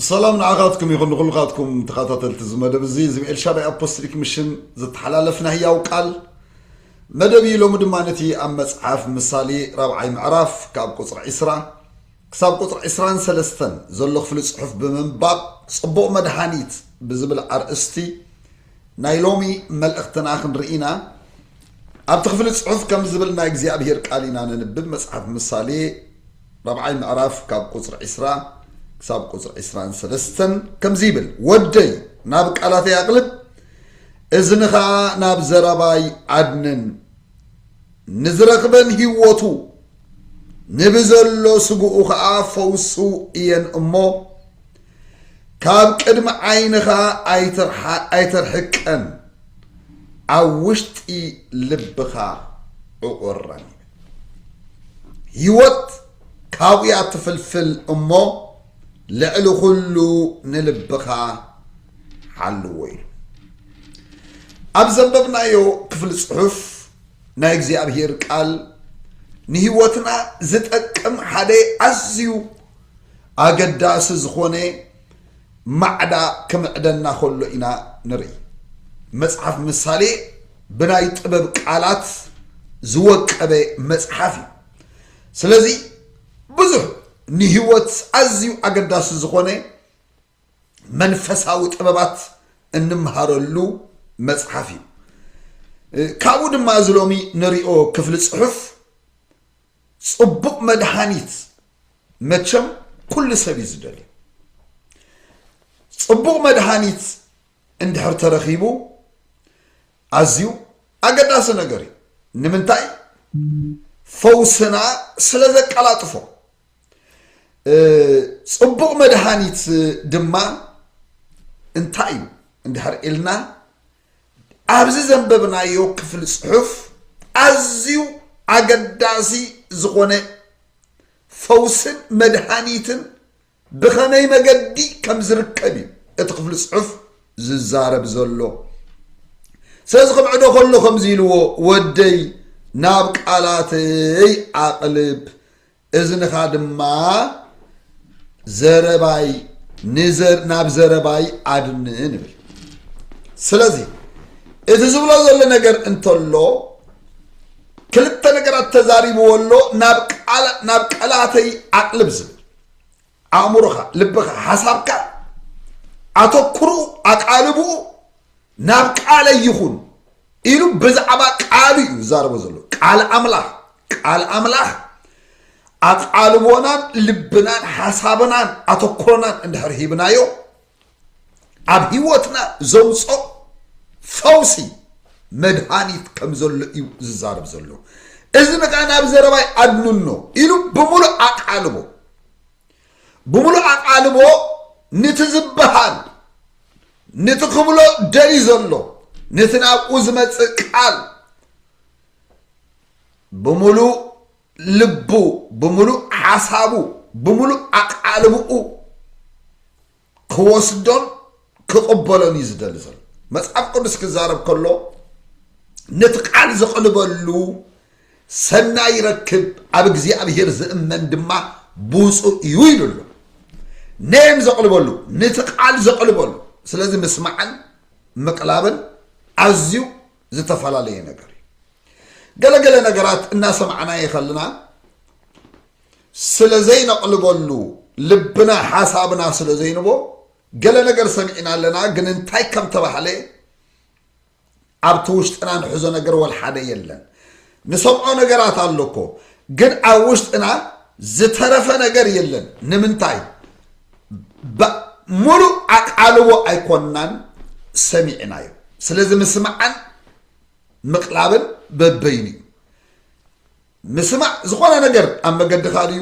ሰላም ንዓኻትኩም ይኹን ንኹልኻትኩም ተኸታተልቲ እዚ መደብ እዚ እዚ ኤልሻዳይ ኣፖስትሊክ ምሽን ዝተሓላለፍ ናይ ህያው ቃል መደብ እዩ ሎሚ ድማ ነቲ ኣብ መፅሓፍ ምሳሌ ራብዓይ ምዕራፍ ካብ ቁፅሪ ዒስራ ክሳብ ቁፅሪ ዒስራን ሰለስተን ዘሎ ክፍሊ ፅሑፍ ብምንባብ ፅቡቕ መድሃኒት ብዝብል ኣርእስቲ ናይ ሎሚ መልእኽትና ክንርኢ ኢና ኣብቲ ክፍሊ ፅሑፍ ከም ዝብል ናይ እግዚኣብሄር ቃል ኢና ነንብብ መፅሓፍ ምሳሌ ራብዓይ ምዕራፍ ካብ ቁጽሪ ዕስራ ክሳብ ቁጽሪ ዕስራን ሰለስተን ከምዚ ይብል ወደይ ናብ ቃላተይ ኣቕልብ እዝንኻ ናብ ዘረባይ ኣድንን ንዝረኽበን ህይወቱ ንብዘሎ ስግኡ ኸኣ ፈውሱ እየን እሞ ካብ ቅድሚ ዓይንኻ ኣይተርሕቀን ኣብ ውሽጢ ልብኻ ዕቑረን ይብል ህይወት ካብኡያ ትፍልፍል እሞ ልዕሊ ኩሉ ንልብኻ ሓልዎ ኢሉ ኣብ ዘንበብናዮ ክፍሊ ጽሑፍ ናይ እግዚኣብሔር ቃል ንህይወትና ዝጠቅም ሓደ ኣዝዩ ኣገዳሲ ዝኾነ ማዕዳ ክምዕደና ከሎ ኢና ንርኢ። መጽሓፍ ምሳሌ ብናይ ጥበብ ቃላት ዝወቀበ መጽሓፍ እዩ። ስለዚ ብዙሕ ንህይወት ኣዝዩ ኣገዳሲ ዝኾነ መንፈሳዊ ጥበባት እንምሃረሉ መጽሓፍ እዩ። ካብኡ ድማ እዚ ሎሚ ንሪኦ ክፍሊ ጽሑፍ ጽቡቅ መድሃኒት መቸም ኩሉ ሰብ እዩ ዝደልዮ ጽቡቅ መድሃኒት እንድሕር ተረኺቡ ኣዝዩ ኣገዳሲ ነገር እዩ ንምንታይ ፈውስና ስለ ዘቀላጥፎ ጽቡቅ መድሃኒት ድማ እንታይ እዩ እንድሕር ኢልና ኣብዚ ዘንበብናዮ ክፍሊ ጽሑፍ ኣዝዩ ኣገዳሲ ዝኾነ ፈውስን መድሃኒትን ብኸመይ መገዲ ከም ዝርከብ እዩ እቲ ክፍሊ ጽሑፍ ዝዛረብ ዘሎ ስለዚ ክምዕዶ ከሎ ከምዚ ኢልዎ ወደይ ናብ ቃላተይ ኣቕልብ እዝንኻ ድማ ዘረባይ ናብ ዘረባይ ኣድን ንብል ስለዚ እቲ ዝብሎ ዘሎ ነገር እንተሎ ክልተ ነገራት ተዛሪብዎ ኣሎ ናብ ቀላተይ ኣቅልብ ዝብል ኣእምሮኻ ልብኻ ሓሳብካ ኣተኩሩ ኣቃልብኡ ናብ ቃለይ ይኹን ኢሉ ብዛዕባ ቃሉ እዩ ዝዛረቦ ዘሎ ቃል ኣምላኽ ቃል ኣምላኽ ኣቓልቦናን ልብናን ሓሳብናን ኣተኩሮናን እንድሕር ሂብናዮ ኣብ ህይወትና ዘምፆ ፈውሲ መድሃኒት ከም ዘሎ እዩ ዝዛረብ ዘሎ እዚ ንከዓ ናብ ዘረባይ ኣድንኖ ኢሉ ብምሉእ ኣቃልቦ ብምሉእ ኣቃልቦ ንቲ ዝበሃል ንቲ ክብሎ ደልዩ ዘሎ ነቲ ናብኡ ዝመጽእ ቃል ብምሉእ ልቡ ብምሉእ ሓሳቡ ብምሉእ ኣቓልብኡ ክወስዶን ክቕበሎን እዩ ዝደሊ ዘሎ መጽሓፍ ቅዱስ ክዛረብ ከሎ ነቲ ቃል ዘቕልበሉ ሰናይ ይረክብ፣ ኣብ እግዚኣብሄር ዝእመን ድማ ብፁእ እዩ ኢሉ ኣሎ። ነየን ዘቕልበሉ ነቲ ቃል ዘቕልበሉ። ስለዚ ምስማዕን ምቕላብን ኣዝዩ ዝተፈላለየ ነገር እዩ። ገለ ገለ ነገራት እናሰማዕናየ ከለና ስለ ዘይነቕልበሉ ልብና ሓሳብና ስለ ዘይንቦ ገለ ነገር ሰሚዕና ኣለና ግን እንታይ ከም ተባህለ ኣብቲ ውሽጥና ንሕዞ ነገር ወልሓደ የለን ንሰምዖ ነገራት ኣሎኮ ግን ኣብ ውሽጥና ዝተረፈ ነገር የለን ንምንታይ ሙሉእ ኣቃልቦ ኣይኮንናን ሰሚዕናዮ ስለዚ ምስማዕን ምቅላብን በበይኑ እዩ ምስማዕ ዝኾነ ነገር ኣብ መገድኻ ድዩ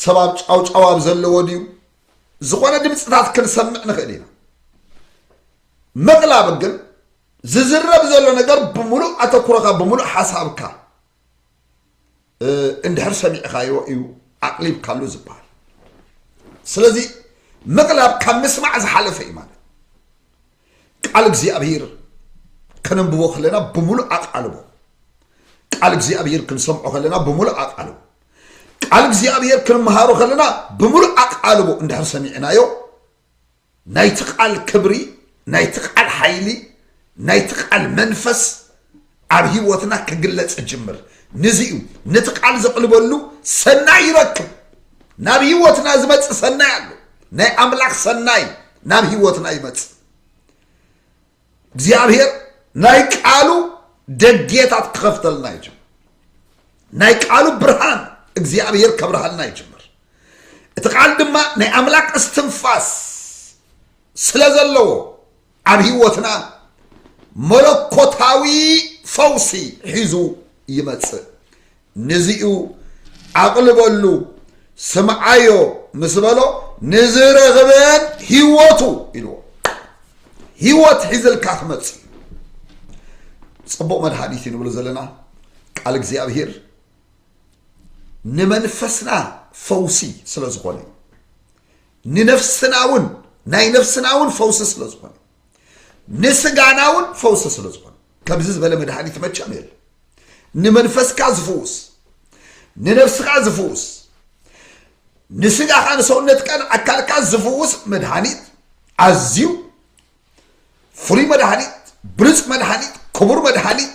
ሰብ ኣብ ጫውጫው ኣብ ዘለዎ ድዩ ዝኾነ ድምፅታት ክንሰምዕ ንኽእል ኢና ምቕላብ ግን ዝዝረብ ዘሎ ነገር ብምሉእ ኣተኩሮኻ ብምሉእ ሓሳብካ እንድሕር ሰሚዕኻዮ እዩ ኣቕሊብካሉ ዝበሃል ስለዚ ምቕላብ ካብ ምስማዕ ዝሓለፈ እዩ ማለት ቃል እግዚኣብሄር ከነንብቦ ከለና ብምሉእ ኣቃልቦ ቃል እግዚኣብሄር ክንሰምዖ ከለና ብምሉእ ኣቃልቦ ቃል እግዚኣብሄር ክንምሃሮ ከለና ብምሉእ ኣቃልቦ እንድሕር ሰሚዕናዮ ናይቲ ቃል ክብሪ፣ ናይቲ ቃል ሓይሊ፣ ናይቲ ቃል መንፈስ ኣብ ህይወትና ክግለጽ ይጅምር። ንዚ እዩ ነቲ ቃል ዘቕልበሉ ሰናይ ይረክብ። ናብ ህይወትና ዝመጽእ ሰናይ ኣሎ። ናይ ኣምላኽ ሰናይ ናብ ህይወትና ይመጽእ። እግዚኣብሔር ናይ ቃሉ ደጌታት ክኸፍተልና ይጅምር ናይ ቃሉ ብርሃን እግዚኣብሔር ከብርሃልና ይጅምር እቲ ቃል ድማ ናይ ኣምላክ እስትንፋስ ስለ ዘለዎ ኣብ ህይወትና መለኮታዊ ፈውሲ ሒዙ ይመጽእ ንዚ'ዩ ኣቕልበሉ ስምዓዮ ምስ በሎ ንዝረኽበን ህይወቱ ኢልዎ ህይወት ሒዝልካ ክመጽእ ጽቡቕ መድሃኒት እዩ ንብሎ ዘለና ቃል እግዚኣብሄር ንመንፈስና ፈውሲ ስለ ዝኾነ ንነፍስና እውን ናይ ነፍስና እውን ፈውሲ ስለ ዝኾነ ንስጋና እውን ፈውሲ ስለ ዝኾነ ከምዚ ዝበለ መድሃኒት መቸም የለ ንመንፈስካ ዝፍውስ ንነብስኻ ዝፍውስ ንስጋኻ ንሰውነትካን ኣካልካ ዝፍውስ መድሃኒት ኣዝዩ ፍሉይ መድሃኒት ብሉፅ መድሃኒት ክቡር መድሃኒት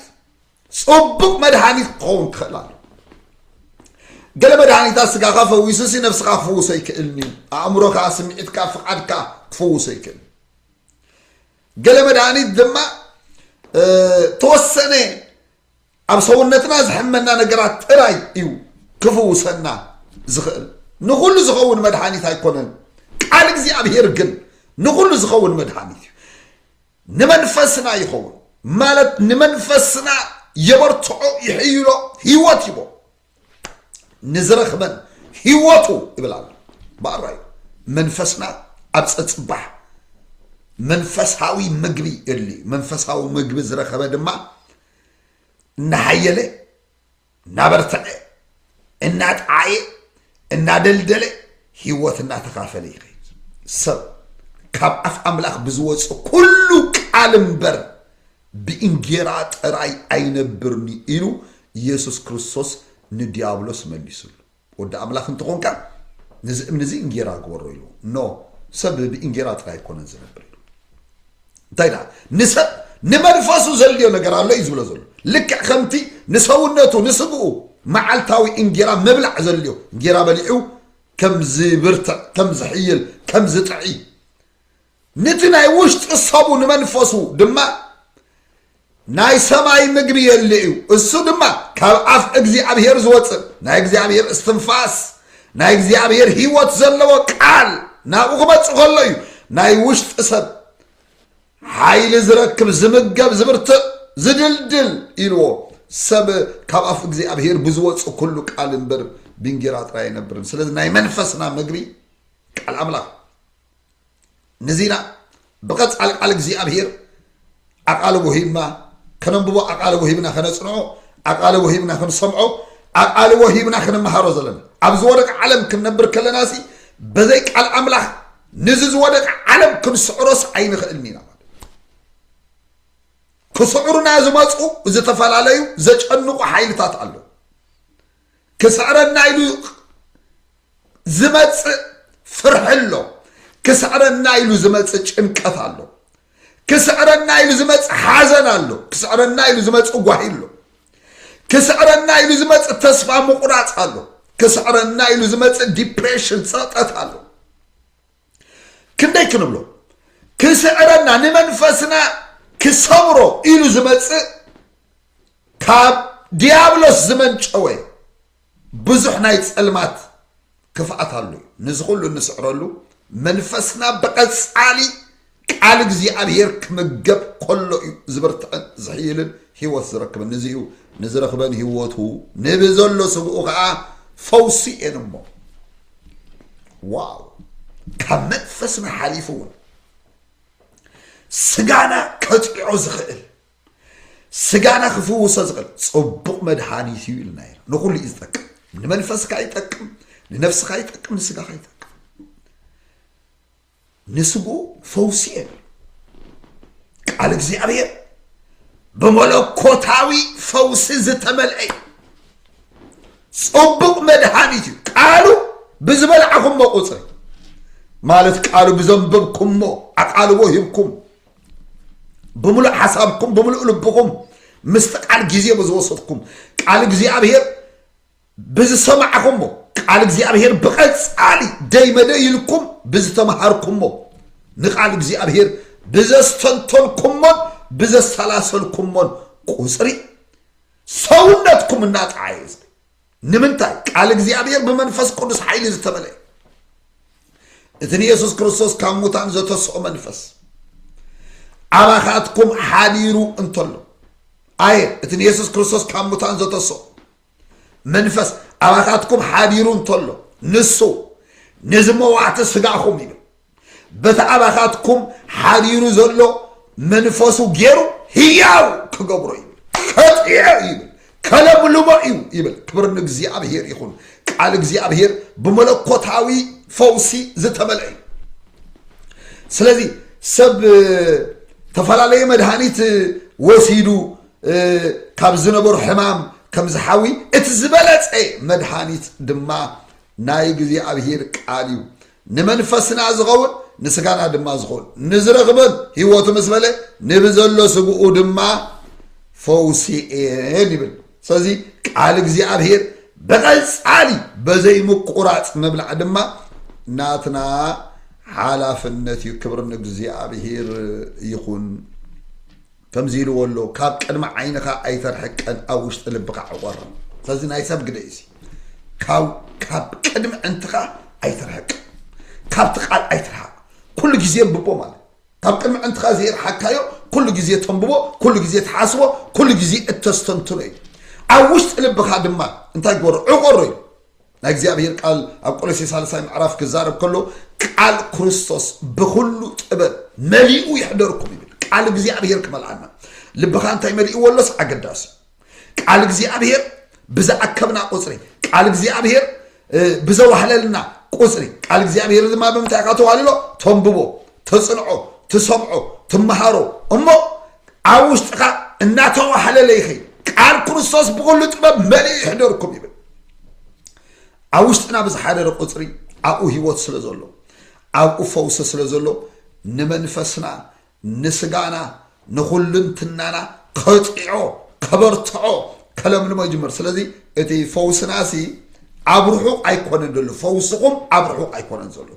ፅቡቅ መድሃኒት ክኸውን ክኽእል ኣሎ ገለ መድሃኒታት ስጋኻ ፈዊሱሲ ነብስኻ ክፍውሶ ይክእልኒ ኣእምሮኻ ስምዒትካ ፍቓድካ ክፍውሶ ይክእል ገለ መድሃኒት ድማ ተወሰነ ኣብ ሰውነትና ዝሕመና ነገራት ጥራይ እዩ ክፍውሰና ዝኽእል ንኹሉ ዝኸውን መድሓኒት ኣይኮነን ቃል እግዚኣብሄር ግን ንኹሉ ዝኸውን መድሓኒት እዩ ንመንፈስና ይኸውን ማለት ንመንፈስና የበርትዖ ይሕይሎ ህይወት ይቦ ንዝረኽበን ህይወቱ ይብል ኣሎ በኣራ እዩ መንፈስና ኣብ ፀፅባሕ መንፈሳዊ ምግቢ የድሊ እዩ መንፈሳዊ ምግቢ ዝረኸበ ድማ እናሓየለ እናበርተዐ እናጠዓየ እናደልደለ ህይወት እናተኻፈለ ይኸይድ ሰብ ካብ ኣፍ ኣምላኽ ብዝወፅ ኩሉ ቃል እምበር ብእንጌራ ጥራይ ኣይነብርን'ዩ ኢሉ ኢየሱስ ክርስቶስ ንድያብሎስ መሊሱሉ። ወዲ ኣምላኽ እንተ ኾንካ ነዚ እምኒ እዚ እንጌራ ግበሮ ኢልዎ። No ሰብ ብእንጌራ ጥራይ ኣይኮነን ዝነብር ኢሉ። እንታይ ደኣ ንሰብ ንመንፈሱ ዘድልዮ ነገር ኣሎ እዩ ዝብሎ ዘሎ። ልክዕ ከምቲ ንሰውነቱ ንስግኡ መዓልታዊ እንጌራ ምብላዕ ዘድልዮ እንጌራ በሊዑ ከም ዝብርትዕ ከም ዝሕይል ከም ዝጥዒ ንቲ ናይ ውሽጢ ሰቡ ንመንፈሱ ድማ ናይ ሰማይ ምግቢ የሊ እዩ፣ እሱ ድማ ካብ ኣፍ እግዚኣብሄር ዝወጽእ ናይ እግዚኣብሄር እስትንፋስ ናይ እግዚኣብሄር ህይወት ዘለዎ ቃል ናብኡ ክመጽእ ከሎ እዩ ናይ ውሽጢ ሰብ ሓይሊ ዝረክብ ዝምገብ ዝብርትዕ ዝድልድል ኢልዎ ሰብ ካብ ኣፍ እግዚኣብሄር ብዝወጽእ ኩሉ ቃል እምበር ብእንጌራ ጥራይ ኣይነብርን ስለዚ ናይ መንፈስና ምግቢ ቃል ኣምላኽ ንዚና ብቐጻሊ ቃል እግዚኣብሄር ኣቓልቦ ሂብና ከነንብቦ ኣቓልቦ ሂብና ከነጽንዖ ኣቓልቦ ሂብና ክንሰምዖ ኣቓልቦ ሂብና ክንመሃሮ ዘለና ኣብ ዝወደቀ ዓለም ክንነብር ከለና ሲ በዘይ ቃል ኣምላኽ ነዚ ዝወደቀ ዓለም ክንስዕሮስ ኣይንኽእልን ኢና ማለት ክስዕሩና ዝመፁ ዝተፈላለዩ ዘጨንቑ ሓይልታት ኣለዉ ክስዕረና ኢሉ ዝመጽእ ፍርሒ ኣሎ ክስዕረና ኢሉ ዝመጽእ ጭንቀት ኣሎ ክስዕረና ኢሉ ዝመጽእ ሓዘን ኣሎ ክስዕረና ኢሉ ዝመጽእ ጓሂ ኣሎ ክስዕረና ኢሉ ዝመጽእ ተስፋ ምቑራፅ ኣሎ ክስዕረና ኢሉ ዝመጽእ ዲፕሬሽን ፀጠት ኣሎ ክንደይ ክንብሎ ክስዕረና ንመንፈስና ክሰብሮ ኢሉ ዝመጽእ ካብ ዲያብሎስ ዝመንጨወ ብዙሕ ናይ ጸልማት ክፍኣት ኣሎ እዩ ንዚ ኩሉ እንስዕረሉ መንፈስና ብቐጻሊ ቃል እግዚኣብሄር ክምገብ ከሎ እዩ ዝብርትዕን ዝሕይልን ህይወት ዝረክብን ንዚ እዩ ንዝረክበን ህይወቱ ንብዘሎ ስግኡ ከዓ ፈውሲ እየን እሞ ዋው ካብ መንፈስና ሓሊፉ እውን ስጋና ከፅዖ ዝኽእል ስጋና ክፍውሶ ዝኽእል ፅቡቕ መድሃኒት እዩ ኢልና ኢና ንኩሉ እዩ ዝጠቅም ንመንፈስካ ይጠቅም ንነፍስካ ይጠቅም ንስጋካ ይጠቅም ንስግኡ ፈውሲ የብሉ ቃል እግዚኣብሔር ብመለኮታዊ ፈውሲ ዝተመልአ እዩ ጽቡቅ መድሃኒት እዩ ቃሉ ብዝበልዓኹሞ ቁፅሪ ማለት ቃሉ ብዘንበብኩሞ ኣቃልቦ ሂብኩም ብምሉእ ሓሳብኩም ብምሉእ ልብኹም ምስቲ ቃል ግዜ ብዝወሰድኩም ቃል እግዚኣብሔር ብዝሰማዕኹሞ ቃል እግዚኣብሔር ብቐጻሊ ደይ መደይ ኢልኩም ብዝተመሃርኩሞ ንቃል እግዚኣብሔር ብዘስተንተንኩሞን ብዘሰላሰልኩሞን ቁጽሪ ሰውነትኩም እናጠዓየ ዝብል ንምንታይ ቃል እግዚኣብሔር ብመንፈስ ቅዱስ ሓይሊ ዝተመለየ እቲ ንየሱስ ክርስቶስ ካብ ሙታን ዘተስኦ መንፈስ ኣባኻትኩም ሓዲሩ እንተሎ ኣየ እቲ ንየሱስ ክርስቶስ ካብ ሙታን ዘተስኦ መንፈስ ኣባታትኩም ሓዲሩ እንተሎ ንሱ ነዚ መዋዕቲ ስጋኹም ኢሉ በቲ ኣባታትኩም ሓዲሩ ዘሎ መንፈሱ ገይሩ ህያው ክገብሮ ይብል ከጥየ ይብል ከለምልሞ እዩ ይብል ክብር ንእግዚኣብሄር ይኹን ቃል እግዚኣብሄር ብመለኮታዊ ፈውሲ ዝተመልአ እዩ ስለዚ ሰብ ተፈላለየ መድሃኒት ወሲዱ ካብ ዝነበሮ ሕማም ከም ዝሓዊ እቲ ዝበለጸ መድሃኒት ድማ ናይ እግዚኣብሔር ቃል እዩ ንመንፈስና ዝኸውን ንስጋና ድማ ዝኸውን ንዝረኽበን ህይወቱ ምስ በለ ንብዘሎ ስግኡ ድማ ፈውሲ እየን ይብል ስለዚ ቃል እግዚኣብሔር ብቐጻሊ በዘይ ምቁራጽ ምብላዕ ድማ ናትና ሓላፍነት እዩ ክብሪ ንእግዚኣብሔር ይኹን ከምዚ ኢልዎ ኣሎ ካብ ቅድሚ ዓይንኻ ኣይተርሕቀን ኣብ ውሽጢ ልብኻ ዕቆርን ሰዚ ናይ ሰብ ግደ እዩ ካብ ካብ ቅድሚ ዕንትኻ ኣይተርሕቀን ካብቲ ቃል ኣይትርሓቕ ኩሉ ግዜ ብቦ ማለት ካብ ቅድሚ ዕንትኻ ዘይርሓካዮ ኩሉ ግዜ ተንብቦ ኩሉ ግዜ ትሓስቦ ኩሉ ግዜ እተስተንትኖ እዩ ኣብ ውሽጢ ልብኻ ድማ እንታይ ግበሮ ዕቆሮ እዩ ናይ እግዚኣብሔር ቃል ኣብ ቆሎሴ ሳልሳይ ምዕራፍ ክዛረብ ከሎ ቃል ክርስቶስ ብኩሉ ጥበብ መሊኡ ይሕደርኩም ይብል ቃል እግዚኣብሔር ክመልኣና ልብኻ እንታይ መሊእዎ ኣሎስ ኣገዳሲ ቃል እግዚኣብሔር ብዝኣከብና ቁፅሪ ቃል እግዚኣብሔር ብዘዋህለልና ቁፅሪ ቃል እግዚኣብሔር ድማ ብምንታይ ኢኻ ተዋህልሎ ተንብቦ ትፅንዖ ትሰምዖ ትመሃሮ እሞ ኣብ ውሽጥኻ እናተዋሓለለ ይኸይድ ቃል ክርስቶስ ብኩሉ ጥበብ መሊኡ ይሕደርኩም ይብል ኣብ ውሽጥና ብዝሓደረ ቁፅሪ ኣብኡ ህይወት ስለ ዘሎ ኣብኡ ፈውሲ ስለ ዘሎ ንመንፈስና ንስጋና ንኹልንትናና ከጽዕዖ ከበርትዖ ከለምልሞ ይጅምር ስለዚ እቲ ፈውስናሲ ኣብ ርሑቕ ኣይኮነን ዘሎ ፈውስኹም ኣብ ርሑቕ ኣይኮነን ዘሎ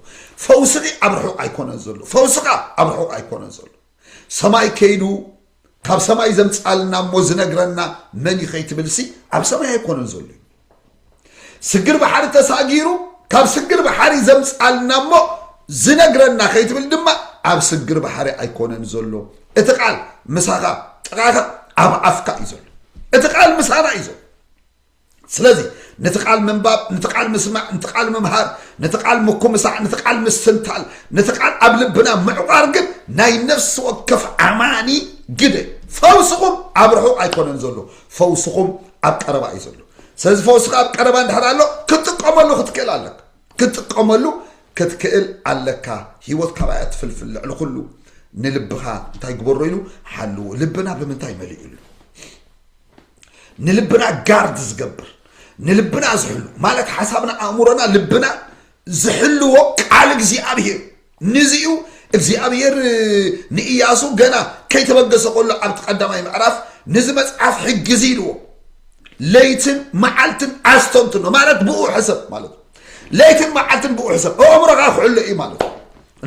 ፈውስኺ ኣብ ርሑቕ ኣይኮነን ዘሎ ፈውስኻ ኣብ ርሑቕ ኣይኮነን ዘሎ ሰማይ ከይዱ ካብ ሰማይ ዘምጻልና እሞ ዝነግረና መን እዩ ከይትብልሲ ኣብ ሰማይ ኣይኮነን ዘሎ እዩ ስግር ባሕሪ ተሳጊሩ ካብ ስግር ባሕሪ ዘምፃልና እሞ ዝነግረና ከይትብል ድማ ኣብ ስግር ባሕሪ ኣይኮነን ዘሎ እቲ ቃል ምሳኻ ጥቓኻ ኣብ ኣፍካ እዩ ዘሎ እቲ ቃል ምሳና እዩ ዘሎ ስለዚ ነቲ ቃል ምንባብ ነቲ ቃል ምስማዕ ነቲ ቃል ምምሃር ነቲ ቃል ምኩምሳዕ ነቲ ቃል ምስትንታል ነቲ ቃል ኣብ ልብና ምዕቋር ግን ናይ ነፍሲ ወከፍ ኣማኒ ግደ ፈውስኹም ኣብ ርሑቕ ኣይኮነን ዘሎ ፈውስኹም ኣብ ቀረባ እዩ ዘሎ ስለዚ ፈውስካ ኣብ ቀረባ እንድሕር ኣሎ ክትጥቀመሉ ክትክእል ኣለካ ክትጥቀመሉ ክትክእል ኣለካ ሂወት ካባይ ኣትፍልፍል ልዕሊ ኩሉ ንልብኻ እንታይ ግበሮ ኢሉ ሓልዎ ልብና ብምንታይ መሊኡ ኣሎ ንልብና ጋርድ ዝገብር ንልብና ዝሕሉ ማለት ሓሳብና ኣእምሮና ልብና ዝሕልዎ ቃል እግዚኣብሄር ንዚ እዩ እግዚኣብሄር ንእያሱ ገና ከይተበገሰ ከሎ ኣብቲ ቀዳማይ ምዕራፍ ንዚ መጽሓፍ ሕጊ እዚ ኢልዎ ለይትን መዓልትን ኣስተንትኖ ማለት ብኡ ሕሰብ ማለት እዩ ለይትን መዓልትን ብኡ ሕሰብ ኣእምሮኻ ክሕሎ እዩ ማለት እዩ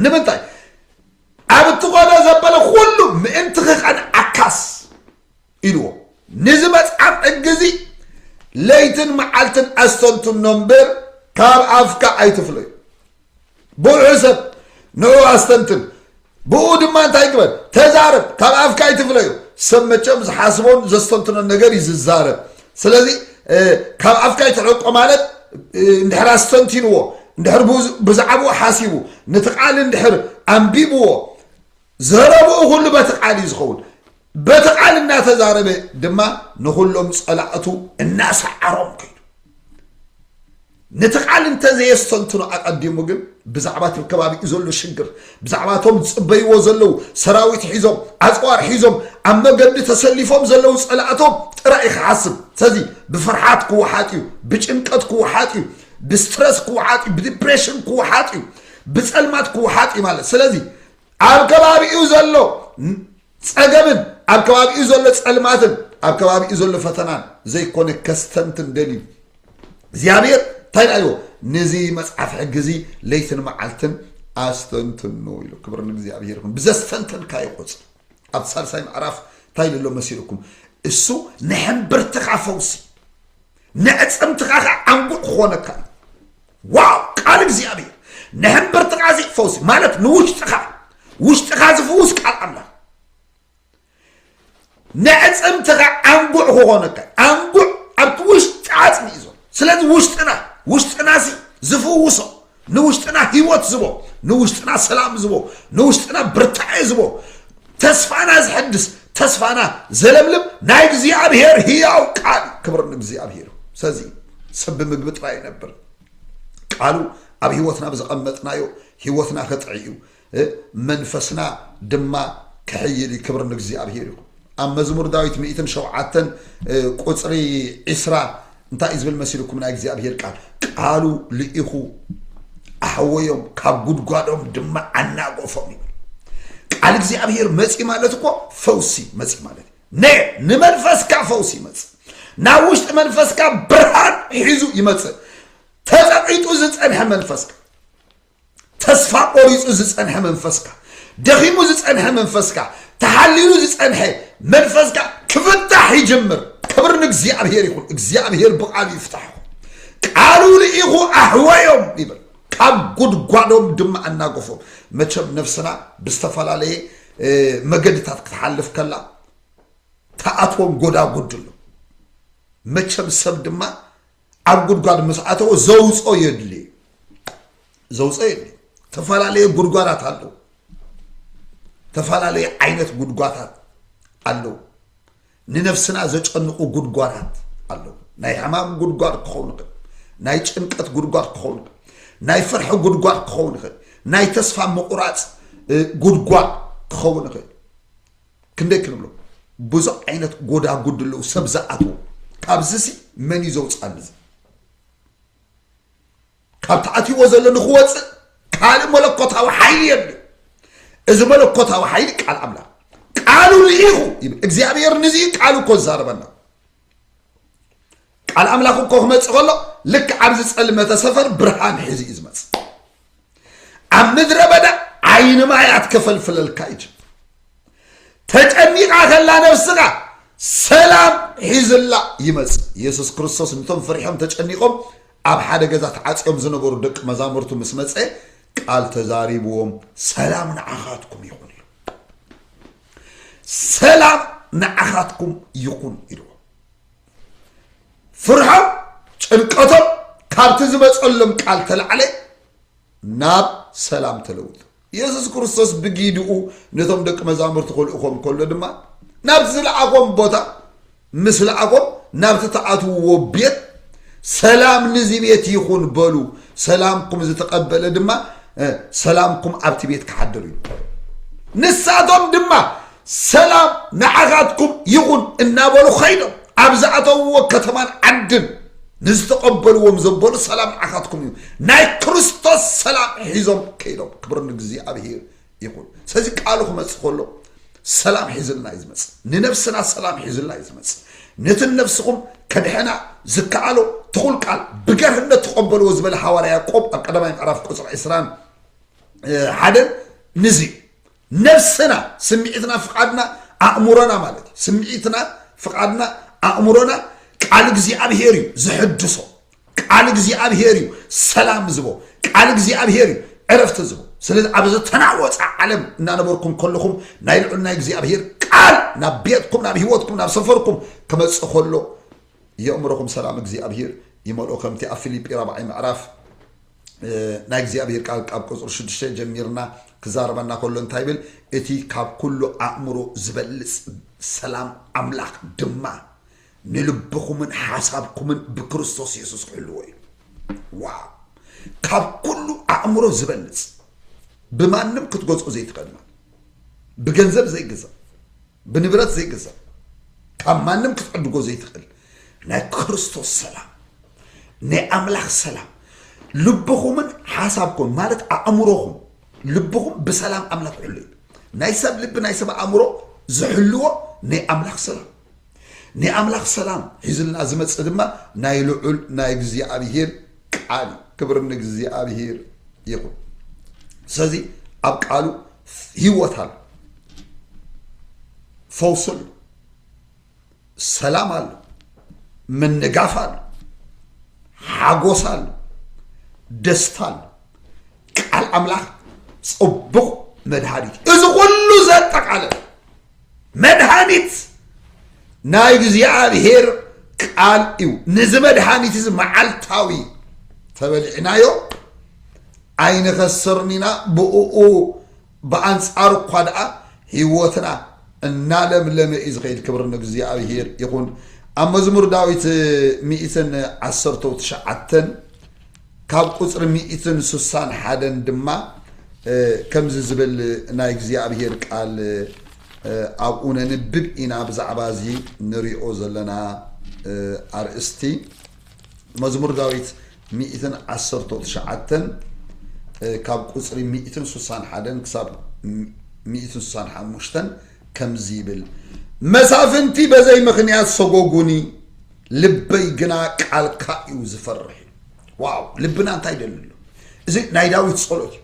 ንምንታይ ኣብ እትኾነ ዘበለ ኩሉ ምእንቲ ክቐንዓካስ ኢልዎ ንዚ መጽሓፍ ሕጊ እዚ ለይትን መዓልትን ኣስተንትኖ እምበር ካብ ኣፍካ ኣይትፍለዩ ብውሑ ሰብ ንዑ ኣስተንትን ብኡ ድማ እንታይ ግበር ተዛረብ ካብ ኣፍካ ኣይትፍለዩ ሰብ መቸም ዝሓስቦን ዘስተንትኖን ነገር እዩ ዝዛረብ ስለዚ ካብ ኣፍካ ይትሕቆ ማለት እንድሕር ኣስተንቲንዎ እንድሕር ብዛዕባኡ ሓሲቡ ነቲ ቃል እንድሕር ኣንቢብዎ ዘረብኡ ኩሉ በቲ ቃል እዩ ዝኸውን በቲ ቃል እናተዛረበ ድማ ንኹሎም ጸላእቱ እናሰዓሮም ከይዱ ነቲ ቃል እንተዘየስተንትኖ ኣቐዲሙ ግን ብዛዕባ እቲ ከባቢኡ ዘሎ ሽግር ብዛዕባ እቶም ዝፅበይዎ ዘለዉ ሰራዊት ሒዞም ኣፅዋር ሒዞም ኣብ መገዲ ተሰሊፎም ዘለዉ ፀላእቶም ጥራይ ክሓስብ ስለዚ ብፍርሓት ክወሓጥ እዩ ብጭንቀት ክወሓጥ እዩ ብስትረስ ክወሓጥ እዩ ብዲፕሬሽን ክወሓጥ እዩ ብፀልማት ክወሓጥ እዩ ማለት ስለዚ ኣብ ከባቢኡ ዘሎ ጸገምን ኣብ ከባቢኡ ዘሎ ጸልማትን ኣብ ከባቢኡ ዘሎ ፈተናን ዘይኮነ ከስተንትን ደልዩ እግዚኣብሔር እንታይ ዳዮ ነዚ መፅሓፍ ሕጊ እዚ ለይትን መዓልትን ኣስተንትኑ ኢሉ ክብር ንእግዚኣብሔር ይኹን ብዘስተንተንካ ይቆፅ ኣብ ሳልሳይ ምዕራፍ እንታይ ኢሉ ኣሎ መሲልኩም እሱ ንሕምብርትኻ ፈውሲ ነዕፅምትኻ ከዓ ዓንጉዕ ክኾነካ እዩ ዋው ቃል እግዚኣብሔር ንሕምብርትኻ እዚ ፈውሲ ማለት ንውሽጥኻ ውሽጥኻ ዝፍውስ ቃል ኣምላኽ ነዕፅምትኻ ዓንጉዕ ክኾነካ ዓንጉዕ ኣብቲ ውሽጢ ዓፅሚ እዩ ዘሎ ስለዚ ውሽጥና ውሽጥና ሲ ዝፍውሶ ንውሽጥና ህይወት ዝቦ ንውሽጥና ሰላም ዝቦ ንውሽጥና ብርታዐ ዝቦ ተስፋና ዝሕድስ ተስፋና ዘለምልም ናይ እግዚኣብሔር ህያው ቃል ክብር ንእግዚኣብሔር ስለዚ ሰብ ብምግቢ ጥራይ ይነብር ቃሉ ኣብ ህይወትና ብዘቐመጥናዮ ህይወትና ክጥዕ እዩ እ መንፈስና ድማ ክሕይል እዩ ክብር ንእግዚኣብሄር ይኹን ኣብ መዝሙር ዳዊት ሚእትን ሸውዓተን ቁፅሪ ዒስራ እንታይ እዩ ዝብል መሲልኩም ናይ እግዚኣብሄር ቃል ቃሉ ልኢኹ ኣሕወዮም ካብ ጉድጓዶም ድማ ኣናጎፎም ይብል ቃል እግዚኣብሄር መፂ ማለት እኮ ፈውሲ መፂ ማለት ነ ንመንፈስካ ፈውሲ ይመፅእ ናብ ውሽጢ መንፈስካ ብርሃን ሒዙ ይመፅእ ተቐቂጡ ዝፀንሐ መንፈስካ ተስፋ ቆሪፁ ዝፀንሐ መንፈስካ ደኺሙ ዝፀንሐ መንፈስካ ተሓሊሉ ዝፀንሐ መንፈስካ ክፍታሕ ይጅምር ክብር ንእግዚኣብሔር ይኹን እግዚኣብሔር ብቃሉ ይፍታሕ ቃሉ ልኢኹ ኣሕወዮም ይብል ካብ ጉድጓዶም ድማ ኣናገፎም መቸም ነፍስና ብዝተፈላለየ መገድታት ክትሓልፍ ከላ ተኣትዎም ጎዳጉድ ኣሎ መቸም ሰብ ድማ ኣብ ጉድጓድ ምስ ኣተወ ዘውፆ የድሊ ዘውፆ የድሊ ተፈላለየ ጉድጓዳት ኣለዉ ተፈላለየ ዓይነት ጉድጓታት ኣለዉ ንነፍስና ዘጨንቑ ጉድጓዳት ኣለዉ ናይ ሕማም ጉድጓድ ክኸውን ይኽእል ናይ ጭንቀት ጉድጓድ ክኸውን ይኽእል ናይ ፍርሒ ጉድጓድ ክኸውን ይኽእል ናይ ተስፋ ምቑራፅ ጉድጓድ ክኸውን ይኽእል ክንደይ ክንብሎ ብዙ ዓይነት ጎዳጉድ ኣለዉ ሰብ ዝኣትዎ ካብዚ ሲ መን እዩ ዘውፅኣኒ እዚ ካብ ተኣትይዎ ዘሎ ንክወፅእ ካልእ መለኮታዊ ሓይሊ የድልዩ እዚ መለኮታዊ ሓይሊ ቃል ኣምላኽ ቃሉ ልኢኹ ይብል እግዚኣብሔር ንዚ ቃሉ እኮ ዝዛረበና ቃል ኣምላኽ እኮ ክመፅእ ከሎ ልክ ኣብ ዝፀልመተ ሰፈር ብርሃን ሒዙ እዩ ዝመፅእ ኣብ ምድረ በዳ ዓይኒ ማያት ከፈልፍለልካ እዩ ተጨኒቃ ከላ ነብስኻ ሰላም ሒዝላ ይመፅእ የሱስ ክርስቶስ ንቶም ፍሪሖም ተጨኒቆም ኣብ ሓደ ገዛ ተዓፅዮም ዝነበሩ ደቂ መዛሙርቱ ምስ መፀ ቃል ተዛሪብዎም ሰላም ንዓኻትኩም ይኹን ኢሉ ሰላም ንዓኻትኩም ይኹን ኢልዎ ፍርሖም ጭንቀቶም ካብቲ ዝመፀሎም ቃል ተላዕለ ናብ ሰላም ተለውጡ ኢየሱስ ክርስቶስ ብጊድኡ ነቶም ደቂ መዛሙርቲ ክልእኾም ከሎ ድማ ናብ ዝለኣኾም ቦታ ምስ ለኣኾም ናብቲ ትኣትውዎ ቤት ሰላም ንዚ ቤት ይኹን በሉ ሰላምኩም ዝተቐበለ ድማ ሰላምኩም ኣብቲ ቤት ክሓድር እዩ ንሳቶም ድማ ሰላም ንዓኻትኩም ይኹን እናበሉ ኸይዶም ኣብ ዝኣተውዎ ከተማን ዓድን ንዝተቐበልዎም ዘበሉ ሰላም ንዓኻትኩም እዩ ናይ ክርስቶስ ሰላም ሒዞም ከይዶም ክብር ንእግዚኣብሄር ይኹን ስለዚ ቃሉ ክመፅእ ከሎ ሰላም ሒዝልና እዩ ዝመፅእ ንነብስና ሰላም ሒዝልና እዩ ዝመፅእ ነቲ ነብስኹም ከድሕና ዝከኣሎ ትኹል ቃል ብገርህነት ተቐበልዎ ዝበለ ሃዋርያ ያዕቆብ ኣብ ቀዳማይ ምዕራፍ ቁፅሪ ዕስራን ሓደን ንዚ ነብስና ስምዒትና ፍቓድና ኣእምሮና ማለት እዩ ስምዒትና ፍቓድና ኣእምሮና ቃል እግዚኣብሄር እዩ ዝሕድሶ ቃል እግዚኣብሄር እዩ ሰላም ዝቦ ቃል እግዚኣብሄር እዩ ዕረፍቲ ዝቦ ስለዚ ኣብ ዝተናወፀ ዓለም እናነበርኩም ከለኹም ናይ ልዑል ናይ እግዚኣብሄር ቃል ናብ ቤትኩም ናብ ህይወትኩም ናብ ሰፈርኩም ክመፅእ ከሎ የእምሮኹም ሰላም እግዚኣብሄር ይመልኦ ከምቲ ኣብ ፊልጲ ራብዓይ ምዕራፍ ናይ እግዚኣብሄር ቃል ካብ ቁፅሪ ሽዱሽተ ጀሚርና ክዛረበና ከሎ እንታይ ይብል እቲ ካብ ኩሉ ኣእምሮ ዝበልፅ ሰላም ኣምላኽ ድማ ንልብኹምን ሓሳብኩምን ብክርስቶስ የሱስ ክሕልዎ እዩ ዋው ካብ ኩሉ ኣእምሮ ዝበልፅ ብማንም ክትገዝኦ ዘይትኽእል ማለት ብገንዘብ ዘይግዛእ ብንብረት ዘይግዛእ ካብ ማንም ክትዕድጎ ዘይትኽእል ናይ ክርስቶስ ሰላም ናይ ኣምላኽ ሰላም ልብኹምን ሓሳብኩም ማለት ኣእምሮኹም ልብኹም ብሰላም ኣምላኽ ሕሉ እዩ ናይ ሰብ ልቢ ናይ ሰብ ኣእምሮ ዝሕልዎ ናይ ኣምላኽ ሰላም ናይ ኣምላኽ ሰላም ሒዝልና ዝመጽእ ድማ ናይ ልዑል ናይ እግዚኣብሄር ቃል እዩ። ክብሪ ንእግዚኣብሄር ይኹን። ስለዚ ኣብ ቃሉ ህይወት ኣሎ፣ ፈውሲ ኣሎ፣ ሰላም ኣሎ፣ ምንጋፍ ኣሎ፣ ሓጎስ ኣሎ፣ ደስታ ኣሎ። ቃል ኣምላኽ ጽቡቕ መድሃኒት እዩ። እዚ ኩሉ ዘጠቃለለ መድሃኒት ናይ እግዚኣብሔር ቃል እዩ ንዚ መድሃኒት እዚ መዓልታዊ ተበሊዕናዮ ኣይንኸስርን ኢና ብእኡ ብኣንጻሩ እኳ ደኣ ህይወትና እናለምለመ እዩ ዝኸይድ ክብሪ ንእግዚኣብሔር ይኹን ኣብ መዝሙር ዳዊት ሚእትን ዓሰርተው ትሽዓተን ካብ ቁጽሪ ሚእትን ሱሳን ሓደን ድማ ከምዚ ዝብል ናይ እግዚኣብሄር ቃል ኣብኡ ነንብብ ኢና ብዛዕባ እዚ ንሪኦ ዘለና ኣርእስቲ መዝሙር ዳዊት ሚእትን ዓሰርተው ትሽዓተን ካብ ቁጽሪ ሚእትን ሱሳን ሓደን ክሳብ ሚእትን ሱሳን ሓሙሽተን ከምዚ ይብል መሳፍንቲ በዘይ ምኽንያት ሰጎጉኒ ልበይ ግና ቃልካ እዩ ዝፈርሕ ዋው ልብና እንታይ ይደሊ ኣሎ እዚ ናይ ዳዊት ጸሎት እዩ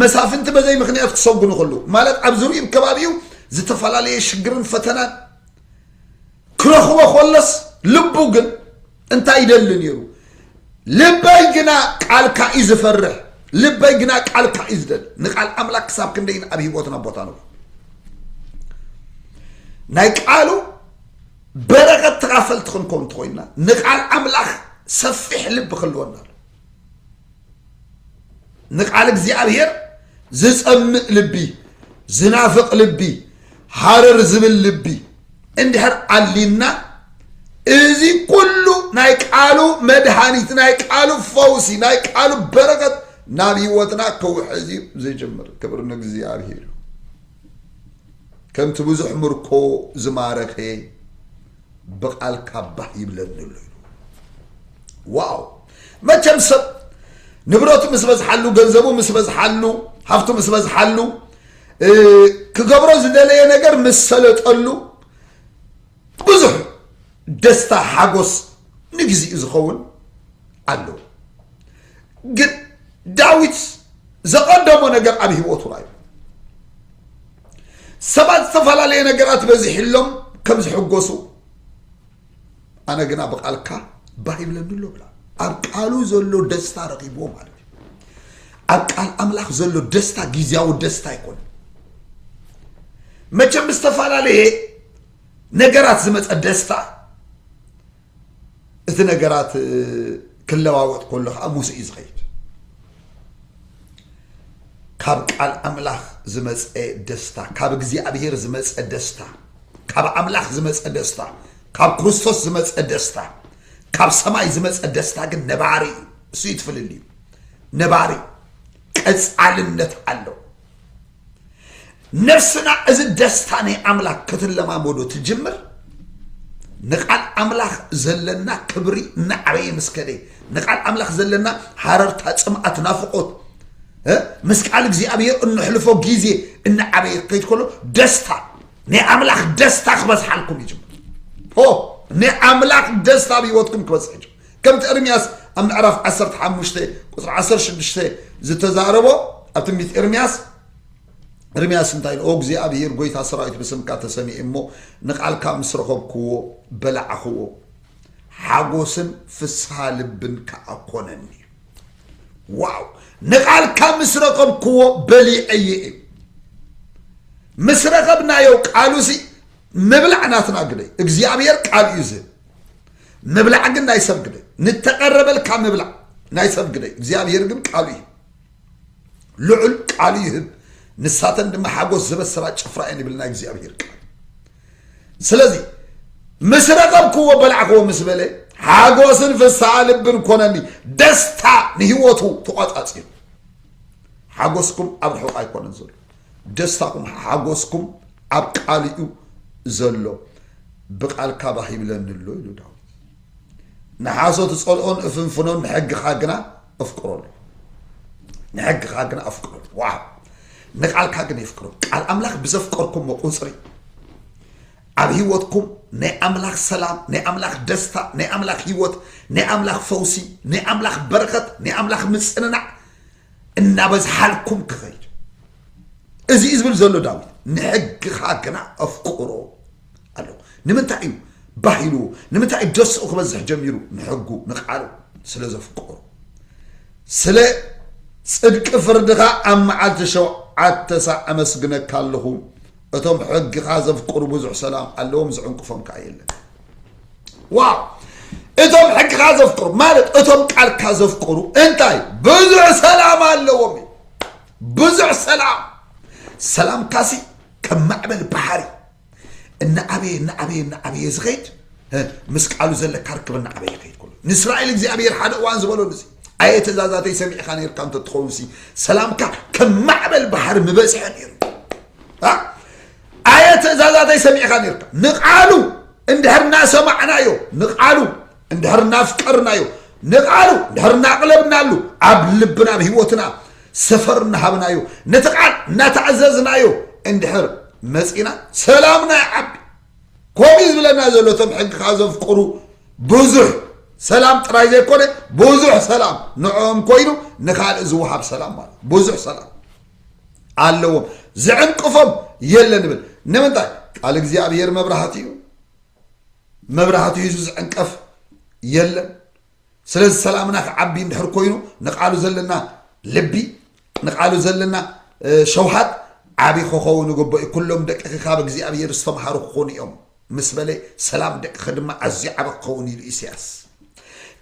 መሳፍንቲ በዘይ ምክንያት ክሰጉኑ ከለዉ ማለት ኣብ ዝርዩም ከባቢኡ ዝተፈላለየ ሽግርን ፈተናን ክረኽቦ ከለስ ልቡ ግን እንታይ ይደሊ ነይሩ ልበይ ግና ቃልካ እዩ ዝፈርሕ ልበይ ግና ቃልካ እዩ ዝደሊ ንቃል ኣምላክ ክሳብ ክንደይን ኣብ ሂወትና ቦታ ኣለዎ ናይ ቃሉ በረከት ተኻፈልቲ ክንከውን እንተኾይንና ንቃል ኣምላኽ ሰፊሕ ልቢ ክህልወና ኣሎ ንቃል እግዚኣብሔር ዝጸምእ ልቢ ዝናፍቕ ልቢ ሃረር ዝብል ልቢ እንድሕር ኣሊና እዚ ኩሉ ናይ ቃሉ መድሃኒት ናይ ቃሉ ፈውሲ ናይ ቃሉ በረከት ናብ ህይወትና ክውሕዝ እዩ ዝጅምር ክብር ንእግዚኣብሔር እዩ ከምቲ ብዙሕ ምርኮ ዝማረኸ ብቓልካ ባህ ይብለኒ ኣሎ ኢሉ ዋው መቸም ሰብ ንብረቱ ምስ በዝሓሉ ገንዘቡ ምስ በዝሓሉ ሃፍቱ ምስ በዝሓሉ ክገብሮ ዝደለየ ነገር ምስ ሰለጠሉ ብዙሕ ደስታ ሓጎስ ንግዚኡ ዝኸውን ኣለዎ ግን ዳዊት ዘቐደሞ ነገር ኣብ ህይወቱ ራዩ ሰባት ዝተፈላለየ ነገራት በዚሕሎም ከም ዝሕጎሱ ኣነ ግና ብቃልካ ባህ ይብለኒ ኣሎ ብላ ኣብ ቃሉ ዘሎ ደስታ ረኺብዎ ማለት እዩ ኣብ ቃል ኣምላኽ ዘሎ ደስታ ግዜያዊ ደስታ ኣይኮነ መቸም ዝተፈላለየ ነገራት ዝመፀ ደስታ እቲ ነገራት ክለዋወጥ ከሎ ከዓ ሙሴ እዩ ዝኸይድ ካብ ቃል ኣምላኽ ዝመፀ ደስታ ካብ እግዚኣብሔር ዝመፀ ደስታ ካብ ኣምላኽ ዝመፀ ደስታ ካብ ክርስቶስ ዝመፀ ደስታ ካብ ሰማይ ዝመፀ ደስታ ግን ነባሪ እዩ እሱ ይትፍልል እዩ ነባሪ ቀፃልነት ኣለው ነፍስና እዚ ደስታ ናይ ኣምላኽ ክትለማመዶ ትጅምር ንቃል ኣምላኽ ዘለና ክብሪ እናዕበየ ምስ ከደ ንቃል ኣምላኽ ዘለና ሃረርታ ፅምኣት ናፍቆት ምስ ቃል እግዚኣብሔር እንሕልፎ ጊዜ እናዓበየ ከይት ከሎ ደስታ ናይ ኣምላኽ ደስታ ክበዝሓልኩም ይጅምር ናይ ኣምላኽ ደስታ ኣብ ህይወትኩም ክበዝሕ ይጅምር ከምቲ ኤርምያስ ኣብ ምዕራፍ ዓሰርተ ሓሙሽተ ቁፅሪ ዓሰርተ ሽዱሽተ ዝተዛረቦ ኣብ ትንቢት ኤርምያስ ኤርምያስ እንታይ ኢሉ? ኦ እግዚኣብሄር ጐይታ ሰራዊት ብስምካ ተሰሚየ እሞ ንቓልካ ምስ ረኸብክዎ በላዕኽዎ፣ ሓጐስን ፍስሃ ልብን ከዓ ኮነኒ። ዋው! ንቓልካ ምስ ረኸብክዎ በሊዐየ እዩ። ምስ ረኸብናዮ ቃሉሲ ምብላዕ ናትና ግደይ። እግዚኣብሄር ቃል እዩ ዝህብ። ምብላዕ ግን ናይ ሰብ ግደ ንተቐረበልካ ምብላዕ ናይ ሰብ ግደ እግዚኣብሔር ግን ቃሉ እዩ ልዑል ቃሉ ይህብ ንሳተን ድማ ሓጎስ ዝበስራ ጭፍራ እየን ይብል ናይ እግዚኣብሔር ቃል ስለዚ ምስ ረኸብክዎ በላዕክዎ ምስ በለ ሓጎስን ፍስሓ ልብን ኮነኒ ደስታ ንህይወቱ ተቋፃፂሩ ሓጎስኩም ኣብ ርሑቕ ኣይኮነን ዘሎ ደስታኹም ሓጎስኩም ኣብ ቃሉ እዩ ዘሎ ብቃልካ ባህ ይብለኒ ኣሎ ኢሉ ዳዊት ንሓሶት እጸልኦን እፍንፍኖን ንሕግኻ ግና እፍቅሮ ኣሎ ንሕግኻ ግና ኣፍቅሮ ኣሎ ዋው ንቃልካ ግን የፍቅሮ ቃል ኣምላኽ ብዘፍቀርኩሞ ቁጽሪ ኣብ ህይወትኩም ናይ ኣምላኽ ሰላም ናይ ኣምላኽ ደስታ ናይ ኣምላኽ ህይወት ናይ ኣምላኽ ፈውሲ ናይ ኣምላኽ በረኸት ናይ ኣምላኽ ምጽንናዕ እናበዝሓልኩም ክኸይድ እዚ እዩ ዝብል ዘሎ ዳዊት ንሕግኻ ግና ኣፍቅሮ ኣሎ ንምንታይ እዩ ባህ ኢልዎ ንምንታይ እዩ ደስኡ ክበዝሕ ጀሚሩ ንሕጉ ንቃሉ ስለ ዘፍቅሮ ስለ ጽድቂ ፍርድኻ ኣብ መዓልቲ ሸውዓተ ሳዕ ኣመስግነካ ኣለኹ እቶም ሕግኻ ዘፍቅሩ ብዙሕ ሰላም ኣለዎም ዝዕንቅፎም ከዓ የለን ዋው እቶም ሕግኻ ዘፍቅሩ ማለት እቶም ቃልካ ዘፍቅሩ እንታይ ብዙሕ ሰላም ኣለዎም እዩ ብዙሕ ሰላም ሰላምካሲ ከም ማዕበል ባሕሪ እናዓበየ እናዓበየ እናዓበየ ዝኸይድ እ፣ ምስ ቃሉ ዘለካ ርክብ እናዓበየ ይኸይድ ኩሉ ንእስራኤል እግዚኣብሔር ሓደ እዋን ዝበለሉ እዚ ኣየ ትእዛዛተይ ሰሚዕካ ነርካ እንተትኸውን ሲ ሰላምካ ከም ማዕበል ባሕሪ ምበዝሐ ነይሩ አ? ኣየ ትእዛዛተይ ሰሚዕኻ ኔርካ ንቓሉ እንድሕር እናሰማዕናዮ ንቓሉ እንድሕር እናፍቀርናዮ ንቓሉ እንድሕር እናቕለብናሉ ኣብ ልብና ኣብ ህይወትና ሰፈር እናሃብናዮ ነቲ ቃል እናተኣዘዝናዮ እንድሕር መፂና ሰላምና ይዓቢ ከምኡ ዝብለና ዘሎ እቶም ሕግኻ ዘፍቅሩ ብዙሕ ሰላም ጥራይ ዘይኮነ ብዙሕ ሰላም ንዕኦም ኮይኑ ንካልእ ዝወሃብ ሰላም ማለት ብዙሕ ሰላም ኣለዎም ዝዕንቅፎም የለ ንብል ንምንታይ ቃል እግዚኣብሔር መብራህቲ እዩ መብራህቲ ሂዙ ዝዕንቀፍ የለን ስለዚ ሰላምና ክዓቢ እንድሕር ኮይኑ ንቃሉ ዘለና ልቢ ንቃሉ ዘለና ሸውሃት ዓብዪ ክኸውን ይግበኦ ኩሎም ደቅኺ ካብ እግዚኣብሔር ዝተምሃሩ ክኾኑ እዮም ምስ በለ ሰላም ደቅኸ ድማ ኣዝዩ ዓበ ክኸውን ኢሉ ኢሳያስ።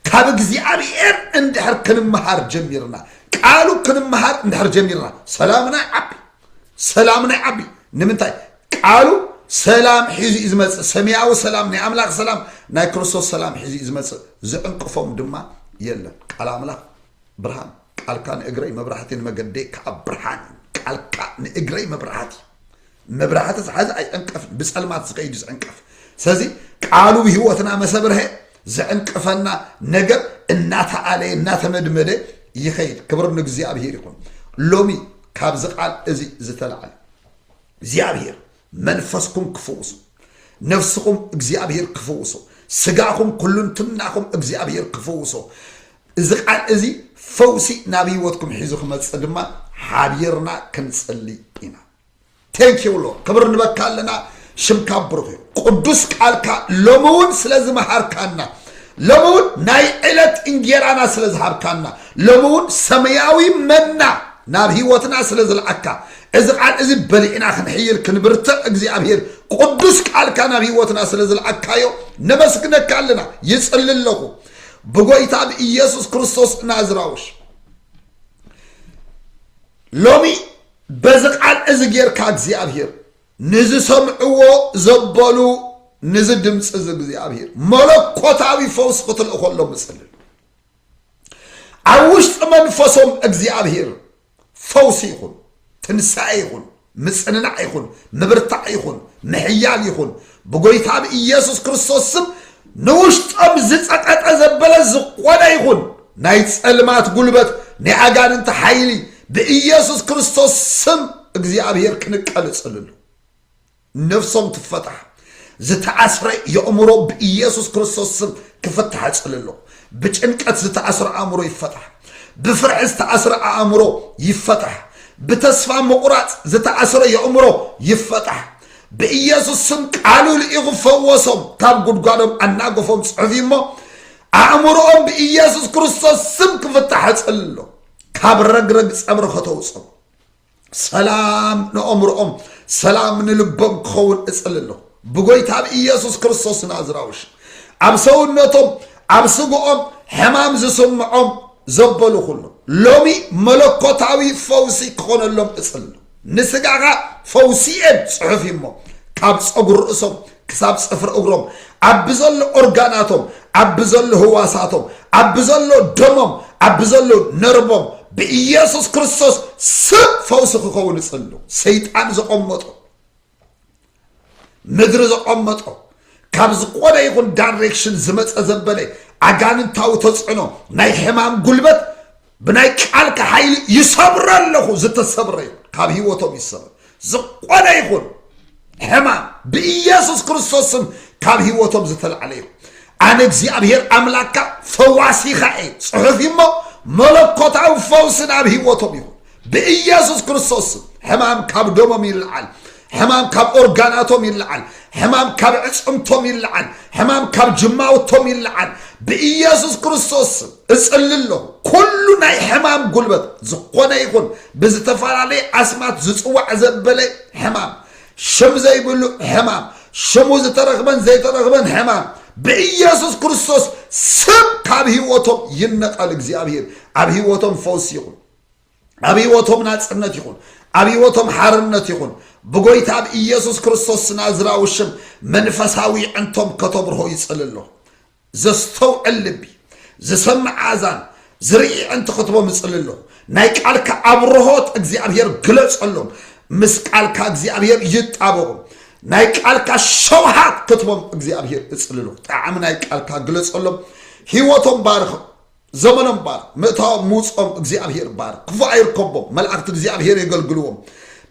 ካብ እግዚኣብሔር እንድሕር ክንመሃር ጀሚርና ቃሉ ክንመሃር እንድሕር ጀሚርና ሰላምና ይዓቢ ሰላምና ይዓቢ ንምንታይ ቃሉ ሰላም ሒዙ እዩ ዝመፅእ ሰማያዊ ሰላም ናይ ኣምላኽ ሰላም ናይ ክርስቶስ ሰላም ሒዙ እዩ ዝመፅእ ዝዕንቅፎም ድማ የለን ቃል ኣምላኽ ብርሃን ቃልካ ንእግረይ መብራህቲ ንመገደይ ከዓ ብርሃን ቃልካ ንእግረይ መብራህቲ መብራህቲ ዝሓዘ ኣይዕንቀፍን ብፀልማት ዝኸይድ እዩ ዝዕንቀፍ ስለዚ ቃሉ ህይወትና መሰብርሀ ዝዕንቅፈና ነገር እናተኣለየ እናተመድመደ ይኸይድ ክብር ንእግዚኣብሔር ይኹን ሎሚ ካብዚ ቃል እዚ ዝተላዓለ እግዚኣብሔር መንፈስኩም ክፍውሱ ነፍስኹም እግዚኣብሔር ክፍውሶ ስጋኹም ኩሉን ትምናኹም እግዚኣብሔር ክፍውሶ እዚ ቃል እዚ ፈውሲ ናብ ህይወትኩም ሒዙ ክመፅእ ድማ ሓቢርና ክንፅሊ ኢና Thank you Lord ክብር ንበካ ኣለና ሽምካ ብሩኽ እዩ ቅዱስ ቃልካ ሎሚ እውን ስለ ዝመሃርካና ሎሚ እውን ናይ ዕለት እንጌራና ስለ ዝሃብካና ሎሚ እውን ሰማያዊ መና ናብ ህይወትና ስለ ዝልዓካ እዚ ቃል እዚ በሊዕና ክንሕይል ክንብርትዕ እግዚኣብሄር ቅዱስ ቃልካ ናብ ህይወትና ስለ ዝልዓካዮ ነመስግነካ ኣለና ይጽሊ ኣለኹ ብጎይታ ብኢየሱስ ክርስቶስ ናዝራውሽ ሎሚ በዚ ቃል እዚ ጌርካ እግዚኣብሔር ንዝሰምዕዎ ዘበሉ ንዚ ድምፂ እዚ እግዚኣብሔር መለኮታዊ ፈውስ ክትልእኾሎም እፅልል ኣብ ውሽጢ መንፈሶም እግዚኣብሔር ፈውሲ ይኹን ትንሳኤ ይኹን ምጽንናዕ ይኹን፣ ምብርታዕ ይኹን፣ ምሕያል ይኹን፣ ብጎይታ ብኢየሱስ ክርስቶስ ስም ንውሽጦም ዝጸጠጠ ዘበለ ዝኾነ ይኹን ናይ ጸልማት ጉልበት ናይ ኣጋንንቲ ሓይሊ ብኢየሱስ ክርስቶስ ስም እግዚኣብሔር ክንቀልጽልሉ ነፍሶም ትፈታሕ ዝተኣስረ የእምሮ ብኢየሱስ ክርስቶስ ስም ክፍታሕ እጽልሎ ብጭንቀት ዝተኣስረ ኣእምሮ ይፈታሕ ብፍርሒ ዝተኣስረ ኣእምሮ ይፈታሕ ብተስፋ ምቑራጽ ዝተኣስረ የእምሮ ይፈታሕ ብኢየሱስ ስም ቃሉ ልኢኹ ፈወሶም ካብ ጉድጓዶም ኣናገፎም ጽሑፍ እሞ ኣእምሮኦም ብኢየሱስ ክርስቶስ ስም ክፍታሕ እጽልሎ ካብ ረግረግ ጸብሪ ከተውጽም ሰላም ንኦምርኦም ሰላም ንልቦም ክኸውን እጽል ኣለኹ ብጎይታ ብ ኢየሱስ ክርስቶስ ናዝራዊ ሽም ኣብ ሰውነቶም ኣብ ስግኦም ሕማም ዝስምዖም ዘበሉ ኩሉ ሎሚ መለኮታዊ ፈውሲ ክኾነሎም እጽል ንስጋኻ ፈውሲ እየን ጽሑፍ እሞ ካብ ጸጉር ርእሶም ክሳብ ጽፍሪ እግሮም፣ ኣብ ብዘሎ ኦርጋናቶም፣ ኣብ ብዘሎ ህዋሳቶም፣ ኣብ ብዘሎ ደሞም፣ ኣብ ብዘሎ ነርቦም፣ ብኢየሱስ ክርስቶስ ስም ፈውሲ ክኸውን እጽሉ። ሰይጣን ዘቐመጦ ምድሪ ዘቐመጦ ካብ ዝኾነ ይኹን ዳይሬክሽን ዝመፀ ዘበለ ኣጋንንታዊ ተፅዕኖ ናይ ሕማም ጉልበት ብናይ ቃልካ ሓይሊ ይሰብሮ ኣለኹ ዝተሰብረ ይኹን ካብ ህይወቶም ይሰብር ዝኾነ ይኹን ሕማም ብኢየሱስ ክርስቶስ ስም ካብ ህይወቶም ዝተላዕለ ይኹን ኣነ እግዚኣብሔር ኣምላካ ፈዋሲኻ እየ ፅሑፍ እሞ መለኮታዊ ፈውስን ኣብ ህይወቶም ይኹን ብኢየሱስ ክርስቶስ ስም ሕማም ካብ ደሞም ይልዓል ሕማም ካብ ኦርጋናቶም ይለዓል። ሕማም ካብ ዕፅምቶም ይለዓል። ሕማም ካብ ጅማውቶም ይለዓል። ብኢየሱስ ክርስቶስ ስም እጽሊ ኣለኹ። ኩሉ ናይ ሕማም ጉልበት ዝኾነ ይኹን ብዝተፈላለየ ኣስማት ዝፅዋዕ ዘበለ ሕማም፣ ሽም ዘይብሉ ሕማም፣ ሽሙ ዝተረኽበን ዘይተረኽበን ሕማም ብኢየሱስ ክርስቶስ ስም ካብ ህይወቶም ይነቐል። እግዚኣብሔር ኣብ ህይወቶም ፈውሲ ይኹን። ኣብ ህይወቶም ናጽነት ይኹን፣ ኣብ ህይወቶም ሓርነት ይኹን፣ ብጎይታ ኣብ ኢየሱስ ክርስቶስ ስናዝራዊ ሽም መንፈሳዊ ዕንቶም ከተብርሆ ይጽል ኣሎ። ዘስተውዕል ልቢ፣ ዝሰምዕ ኣእዛን፣ ዝርኢ ዕንቲ ክትቦም ይጽል ኣሎ። ናይ ቃልካ ኣብርሆት እግዚኣብሔር ግለጸሎም። ምስ ቃልካ እግዚኣብሔር ይጣበቑ። ናይ ቃልካ ሸውሃት ክትቦም እግዚኣብሔር እጽልሎ። ጣዕሚ ናይ ቃልካ ግለጸሎም። ህይወቶም ባርኽ። ዘመኖም ባርኽ ምእታዎም ምውጽኦም እግዚኣብሄር ባርኽ ክፉእ ኣይርከቦም መላእክቲ እግዚኣብሄር የገልግልዎም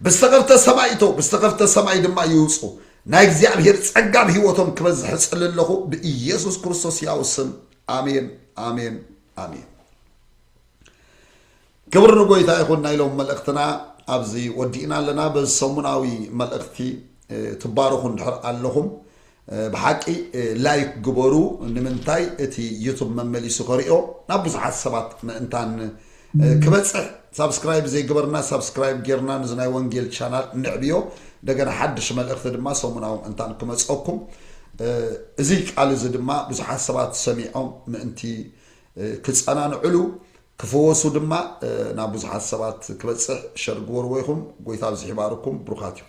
ብዝተኸፍተ ሰማይ ይእተው ብዝተኸፍተ ሰማይ ድማ ይውጹ ናይ እግዚኣብሄር ጸጋ ኣብ ህይወቶም ክበዝሕ እጽሊ ኣለኹ ብኢየሱስ ክርስቶስ ያው ስም ኣሜን ኣሜን ኣሜን ክብሪ ንጎይታ ይኹን ናይ ሎም መልእኽትና ኣብዚ ወዲእና ኣለና በዚ ሰሙናዊ መልእኽቲ ትባረኹ እንድሕር ኣለኹም ብሓቂ ላይክ ግበሩ ንምንታይ እቲ ዩቱብ መመሊሱ ከሪኦ ናብ ብዙሓት ሰባት ምእንታን ክበፅሕ ሳብስክራይብ ዘይገበርና ሳብስክራይብ ጌርና ንዚ ናይ ወንጌል ቻናል ንዕብዮ እንደገና ሓድሽ መልእኽቲ ድማ ሰሙናዊ ምእንታን ክመፀኩም እዚ ቃል እዚ ድማ ብዙሓት ሰባት ሰሚዖም ምእንቲ ክፀናንዕሉ ክፍወሱ ድማ ናብ ብዙሓት ሰባት ክበጽሕ ሸር ግበርዎ ኢኹም ጎይታ ኣብዚሑ ይባርኩም ብሩኻት ኢኹም።